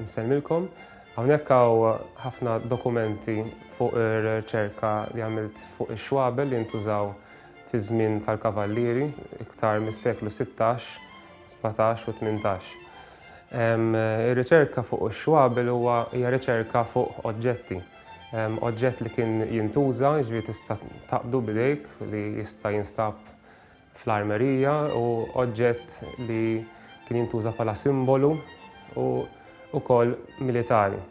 Insemmilkom, hawnhekk hawn ħafna dokumenti fuq ir-riċerka li għamilt fuq ix-xwabel li ntużaw fi żmien tal-kavallieri iktar mis-seklu 16, 17 u 18. Ir-riċerka fuq ix-xwabel huwa hija riċerka fuq oġġetti. Oġġett li kien jintuża, jiġri tista' taqdu bidejk li jista' jinstab fl-armerija u oġġett li kien jintuża bħala simbolu u ukoll militari.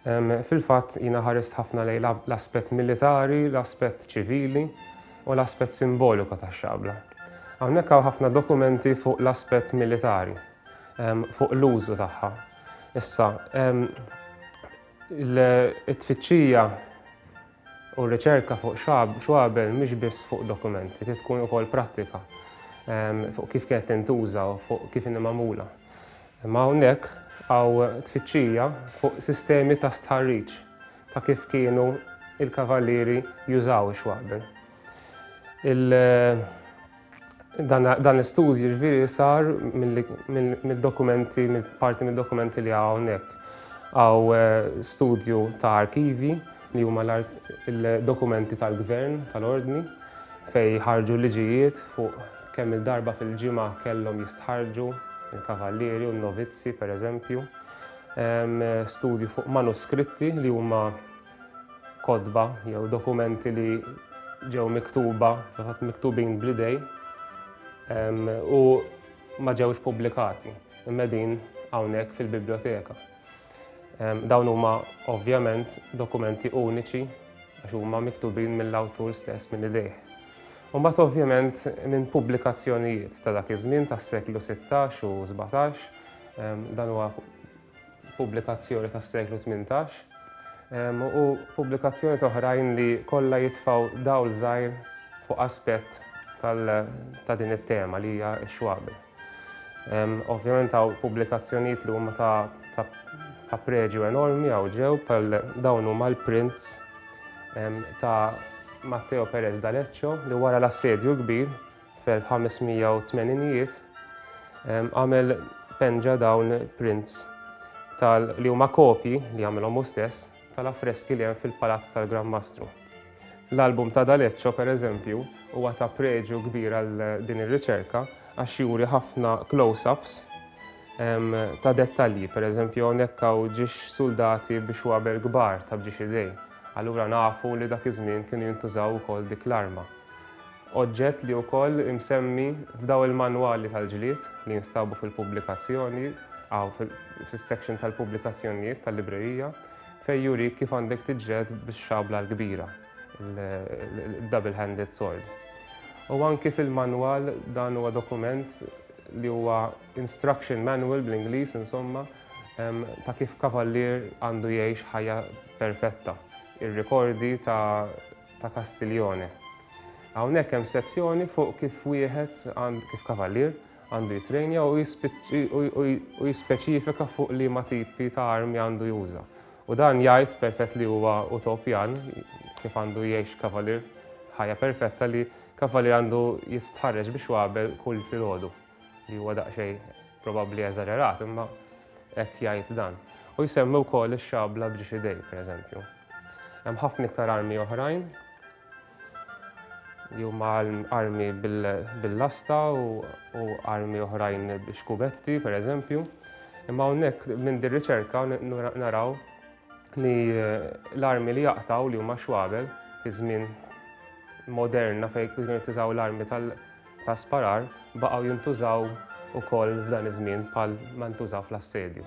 Fil-fatt jiena ħarist ħafna lejn l-aspett militari, l-aspett ċivili u l-aspett simboliku tax-xabla. Hawnhekk hawn ħafna dokumenti fuq l-aspett militari. fuq l-użu tagħha. Issa, it-tfittxija u r-riċerka fuq xwabel mhix biss fuq dokumenti, trid tkun ukoll prattika fuq kif kienet tintuża u fuq kif inhi magħmula. Imma hawnhekk hawn tfittxija fuq sistemi ta' stħarriġ ta' kif kienu il-kavallieri jużaw ix-xwabel. Dan l-istudju ġviri sar mill-dokumenti, mill-parti mill-dokumenti li għawnek. Għaw eh, studju ta' arkivi li huma l-dokumenti tal-gvern, tal-ordni, fej ħarġu liġijiet fuq kemm il-darba fil-ġimgħa kellhom jistħarġu il-kavallieri u n-novizzi, per eżempju. Studju fuq manuskritti li huma kotba jew dokumenti li ġew miktuba, fil-fatt miktubin bl-idej, u ma ġewx pubblikati, immedin hawnhekk fil-biblioteka. Dawn huma ovvjament dokumenti uniċi għax huma miktubin mill-awtur stess minn idejh. Mbagħad ovvjament minn pubblikazzjonijiet ta' dak iż-żmien tas-seklu 16 u 17 dan huwa pubblikazzjoni tas-seklu tmintax, u pubblikazzjonijiet oħrajn li kollha jitfgħu dawl żgħir fuq aspett ta' din it-tema li hija x-xwabi. Ovvjament hawn pubblikazzjonijiet li huma ta' preġju enormi hawn ġew bħal dawn huma l-prints ta' Matteo Perez D'Aleccio li wara l-assedju kbir fil-1580ijiet għamel penġa dawn prints tal li huma kopji li għamilhom hu stess tal-affreski li hemm fil-Palazz tal-Gran Mastru. L-album ta' D'Aleccio, per eżempju, huwa ta' preġju kbir għal din ir-riċerka għax juri ħafna close-ups ta' dettalji, per eżempju hawnhekk hawn ġiex suldati biex waber kbar ta' bġiex idej. Allura nafu li dak iż-żmien kienu jintużaw ukoll dik l-arma. oġġett li wkoll imsemmi f'daw il-manwali tal-ġlied li jinstabu fil-pubblikazzjoni, hawn fis-section tal-pubblikazzjonijiet tal-librerija, fejn jurik kif għandek tiġġieled bix-xabla l-kbira, il-double handed sword. U anki fil-manwal dan huwa dokument li huwa instruction manual bl-Ingliż insomma ta' kif kavallier għandu jgħix ħajja perfetta. Ir-rikordi ta' ta' Castiglione. Hawnhekk hemm sezzjoni fuq kif wieħed għand kif kavallier għandu jitrejnja u jispeċifika fuq li ma tipi ta' armi għandu juża. U dan jgħid perfett li huwa utopjan kif għandu jgħix kavallier ħajja perfetta li kavallier għandu jistħarreġ biex wabel kull filgħodu. li huwa daqsxejn probabbli eżaġerat, imma hekk jgħid dan. U jsemmi wkoll ix-xabla b'ġiex idej, pereżempju. Hemm ħafna iktar armi oħrajn li huma armi bil-lasta u armi oħrajn biex kubetti, pereżempju. Imma hawnhekk minn dir riċerka naraw li eh, l-armi li jaqtaw li huma xwabel fi żmien moderna fejn kienu tużaw l-armi tal- ta' sparar baqgħu jintużaw ukoll f'dan iż-żmien bħal ma ntużaw fl-assedju.